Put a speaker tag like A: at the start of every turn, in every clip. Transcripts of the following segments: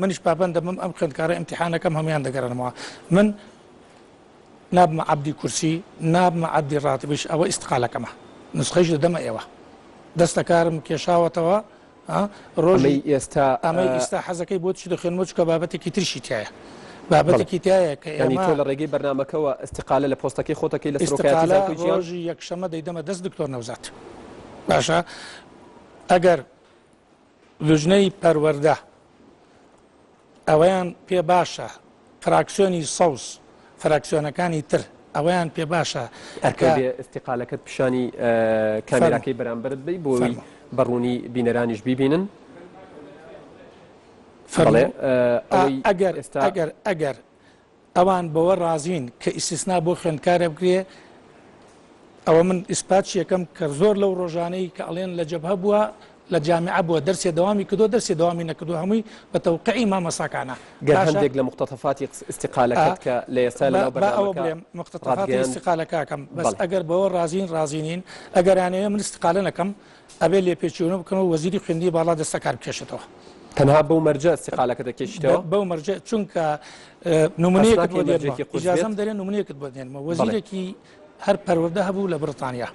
A: منیش پابەند دەبم ئەم خوێندکارە ئیمتیحانەکەم هەموویان دەگەرنمەوە من نابمە عەبدی کورسی نابمە عەبدی ڕاتبیش ئەوە ئیستقالەکەمە نسخەیش دەدەمە ئێوە دەستەکارم کێشاوەتەوە ڕۆژی ئێستا ئەمەی ئێستا حەزەکەی بۆ چی دەخێنمە چکە بابەتێکی ترشی تایە بابەتێکی تایە کە ینی تۆ لە ڕێگەی بەرنمەکەەوە
B: استقالە لە پۆستەکەی خۆتەکەی لە سرۆژی یەکشەمە
A: دەیدەمە دەست دکتۆر نەوزات باشە ئەگەر لوجنەی پەروەردە ئەوەیان پێ باشە فراکسیۆنی سەوز فراکسیۆنەکانی تر ئەوەیان پێ باشە ئەرکە بێ استقالەکەت
B: پیشانی کامێراکەی بەرامبرت بی بۆی بەڕوونی بینەرانیش بیبینن
A: ئەگەر ئێستا ئەگەر ئەگەر ئەوان بەوە ڕازین کە ئیستیسنا بۆ خوێندکارە بکرێ، ئەوە من ئیسپات چیەکەم کە زۆر لەو ڕۆژانەی کە ئەڵێن لە جەبهە بووە لە جامیعە بووە دەرسێ دەوامی کردووە دەرسێ دەوامی نەکردووە هەمووی بە تەوقعی مامۆستاکانە. گەر هەندێک لە
B: موقتەتەفاتی ئیستیقالەکەت کە لە ئێستا لەناو بەرنامەکە ڕات گەیاند. با ئەوە بڵێم
A: موقتەتەفاتی ئیستیقالەکەکەم بەس ئەگەر بەوە ڕازین ڕازی نین ئەگەر ئەیانەوێ من ئیستیقالە نەکەم ئەبێ لێپێچیونە بکەن و وەزیری خوێندنی باڵا دەستەکار بکێشێتەوە. تەنها بەو مەرجە
B: سیقالەکە دەکێشیتەوە؟ بەو مەرجە چونکە
A: نمونەیەکت بۆ دێنمەوە، ئیجازەم دەرێ نمونەیەکت بۆ دێنمەوە، وەزیرێکی هەر پەروەردە هەبوو لە بڕتانیا،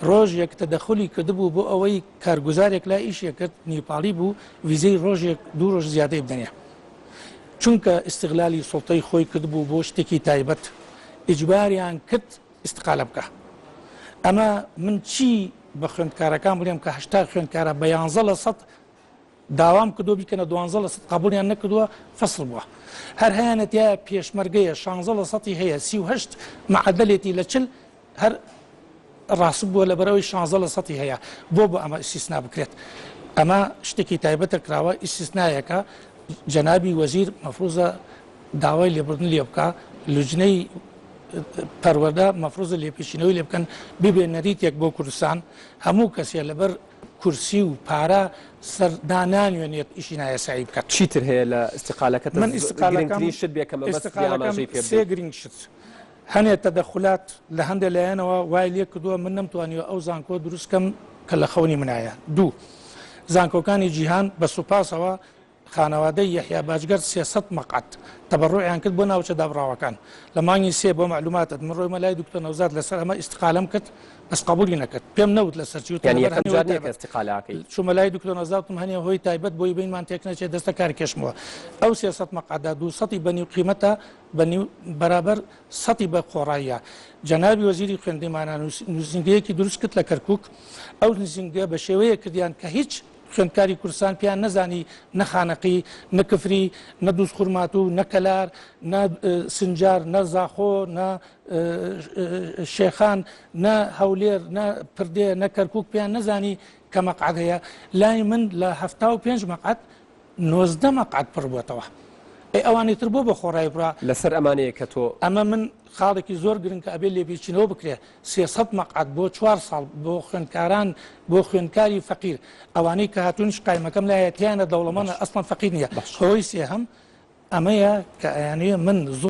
A: ڕۆژێک تەدەخولی کردبوو بۆ ئەوەی کارگوزارێک لای ئیشێ کرد نیپاڵی بوو ویزەی ڕۆژێک دوو ڕۆژ زیادەی بدەنێ. چونکە ئیستغلالی سوڵتەی خۆی کردبوو بۆ شتێکی تایبەت، ئیجباریان کرد ئیستقالە بکە ئەمە من چی بە خوێندکارەکان بڵێم کە هەشتا خوێندکارە بە یانزە لە سەد داوام کردو بیکەنە دوانزە لە سەد قبولیان نەکردووە فەصل بووە هەر هەیەەتە پێشمەرگەیە شانزە لە سەی هەیە سیهشت معدلێتی لە چل هەر ڕاست بووە لە بەرەوەی شانزە لە سەی هەیە بۆ بۆ ئەمە ئیسیسنا بکرێت ئەمە شتێکی تایبەتە کراوە ئیسیسنایەکە جەنابی وەزیر مەفروزە داوای لێبوردن لێ بکا لوجنەی پەروەدە مەفروزە لێپێچینەوەی لێ بکەن ببێ نەریتێک بۆ کوردستان هەموو کەسێ لەبەر کورسی و پارە سەردانانوێنێت ئیشی نایەسایی بکات چیتر هەیە لە
B: استقالەکە من استقالەکەشت
A: بێکەمەسێ گرنگ شت هەنێ تەدەخلات لە هەندێک لایەنەوە وای لێ کردووە من نەمتوانیوە ئەو زانکۆ دروستکەم کە لە خەونی منایە دوو زانکۆکانی جیهان بە سوپاسەوە خانەوادەی یەحیا باجگەر سێ سەد مەقعەد تەبەڕوعیان کرد بۆ ناوچە دابڕاوەکان لە مانگی سێ بۆ مەعلوماتت من ڕۆیمە لای دکتۆر نەوزاد لەسەر ئەمە ئیستقالەم کرد بەس قبولی نەکرد پێم نەوت لەسەر چی وتم یانی لەبەر یەکەم هەنێ جار هۆی نیە کە تایبەت ئیستقالە ئەکەی چوومە لای دکتۆر نەوزاد وتم هەنێ هۆی تایبەت بۆی بینمان تێک نەچێت دەستە کار کێشمەوە ئەو سێ سەد مەقعەدە دوو سەتی بە نیو قیمەتە بە نیو بەرابەر سەتی بە قۆڕاییە جەنابی وەزیری خوێندنی مانا نووس نووسینگەیەکی دروست کرد لە کەرکووک ئەو نووسینگە بە شێوەیەک کردیان کە هیچ خوێندکاری کوردستان پێیان نەزانی نە خانەقی، نە کفری، نە دوزخورماتوو، نە کەلار، نە سنجار، نە زاخۆ، نە شێخان، نە هەولێر، نە پردێ، نە کەرکووک پێیان نەزانی کە مەقعەد هەیە. لای من لە هەفتا و پێنج مەقعەد، نۆزدە مەقعەد پڕ بۆتەوە ئەی ئەوانی تر بۆ بە خۆڕای برا لەسەر ئەمانەیە کە تۆ
B: ئەمە من خاڵێکی
A: زۆر گرنگ کە ئەبێ لێپیچینەوە بکرێ سێسەد مەقعد بۆ چوار ساڵ بۆ خوێندکاران بۆ خوێندکاری فەقیر ئەوانەی کە هاتوونش قایمەکەم لایەتیانە دەوڵەمەە ئەسڵم فەقیر نیە بەشەوەی سێهەم ئەمەیە کە ئەیانەیە من زۆر